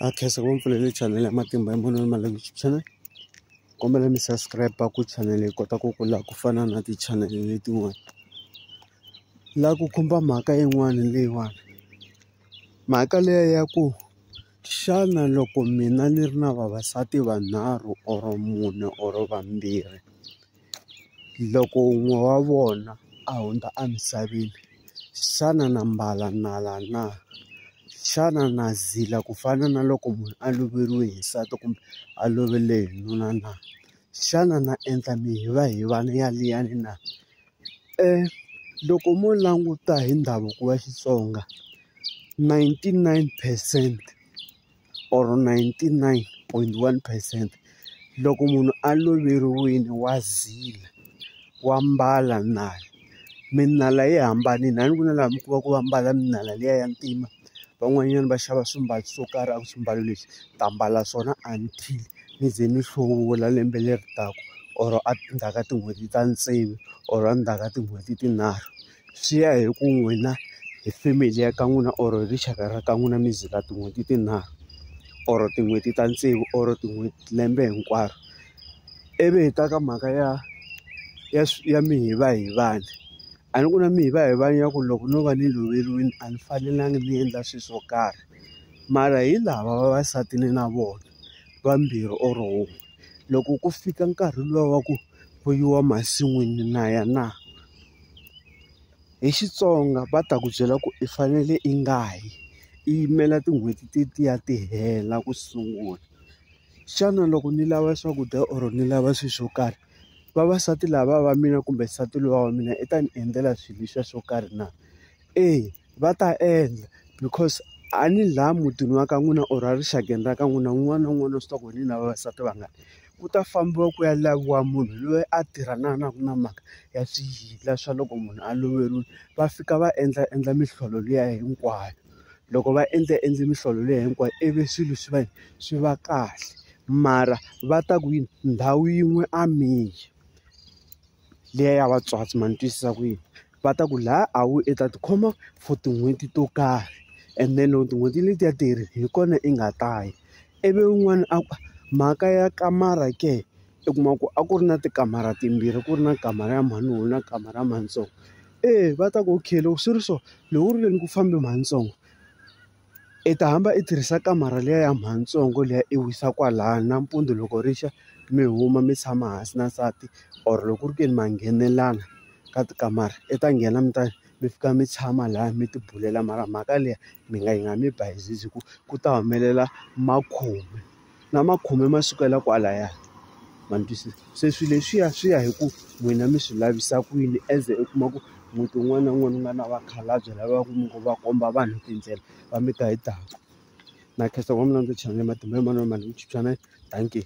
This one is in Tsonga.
a khensa ku mpfulele channel ya matimba ya munhu mali youtube channel kombela mi subscribe ku channel yi kota ku kula ku fana na ti-channel letin'wana la ku khumba mhaka yin'wana leyiwani mhaka leya ya ku xana loko mina ni ri na vavasati vanharhu or mune or vambirhi. Loko wun'we wa vona a hundza emisaveni, xana na mbala nala na? Xana na zila ku fana na loko munhu a loveriwe hi nsati kumbe a lovele hi nuna na? Xana na endla mihivahivana ya liyani na? Loko mo languta hi ndhavuko wa Xitsonga ninety-nine percent. or ninety nine point one percent loko munhu a loveriwile wa zila wa mbala nala minala yi hambanile a ni ku na laha mi kuma ku va mbala minala liya ya ntima van'wanyana va xava swimbalo swo karhi a ku swimbalo leswi ta mbala swona until mi ze mi hluvula lembe leri taka or endzhaku ka tin'hweti ta tsevu or endzhaku ka tin'hweti tinharhu. swi ya hi ku n'wina hi family ya ka n'wina or rixaka ra ka n'wina mi zila tin'hweti tinharhu or tin'hweti ta tsevu or tin'hweti lembe hinkwaro ivi hi ta ka mhaka ya ya ya mihivahivana a ni ku na mihivahivana ya ku loko no va ni loveriwile a ni fanelanga ni endla swilo swo karhi mara hi lava vavasati ni na vona vambirhi or wun'we loko ku fika nkarhi luwa wa ku. ku yiwa masin'wini na ya na hi Xitsonga va ta ku byela ku i fanele i nga yi i yimela tin'hweti ti ti ya ti hela ku sungula xana loko ni lava swakudya or ni lava swilo swo karhi vavasati lava va mina kumbe nsati loyi wa mina i ta ni endlela swilo leswiya swo karhi na. Eya va ta endla because a ni laha mutini wa ka n'wina or erixakeni ra ka n'wina un'wana na un'wana swi tiva ku ni na vavasati vangani ku ta fambiwa ku ya laviwa munhu loyi a tirhanaka na mhaka ya swiyila swa loko munhu a loveriwile va fika va endla endla mihlolo liya hinkwayo loko va endla endla mihlolo liya hinkwayo ivi swilo swi va swi va kahle mara va ta ku yini ndhawu yin'we a mi yi liya ya vatswatsi ma ni twisisa ku yini. va ta ku laha a wu i ta tikhoma for tin'hweti to karhi and then loko tin'hweti letiya ti herile hi kona i nga ta ya ivi un'wana a ku mhaka ya kamara ke i kuma ku a ku ri na tikamara timbirhi ku ri na kamara ya mhani wena kamara ya mhani ntsongo eya va ta ku okay loko swi ri so loko u ri le ni ku fambe mhani ntsongo. I ta hamba i tirhisa kamara liya ya mhani ntsongo liya i wisa kwala nampundzu loko ri xa mi huma mi tshama hansi na nsati or loko ku ri ke ni ma nghenelelana ka tikamara i ta nghena mi ta mi fika mi tshama laya mi ti bulela mara mhaka liya mi nga yi nga mi ba hi ku ku ta humelela makhume. na ma khome ma sukela kwalaya ma ni twisisa se swilo leswiya swi ya hi ku n'wina mi swi lavisa ku yini as u kuma ku muti wun'wana na wun'wana wu nga na vakhalabya lava ku mi ngo va komba vanhu tindlela va mi ta hi daku na khensa ngopfu na ndzi chela matimba hi mani wa mani hi ku chikisaneni dankie.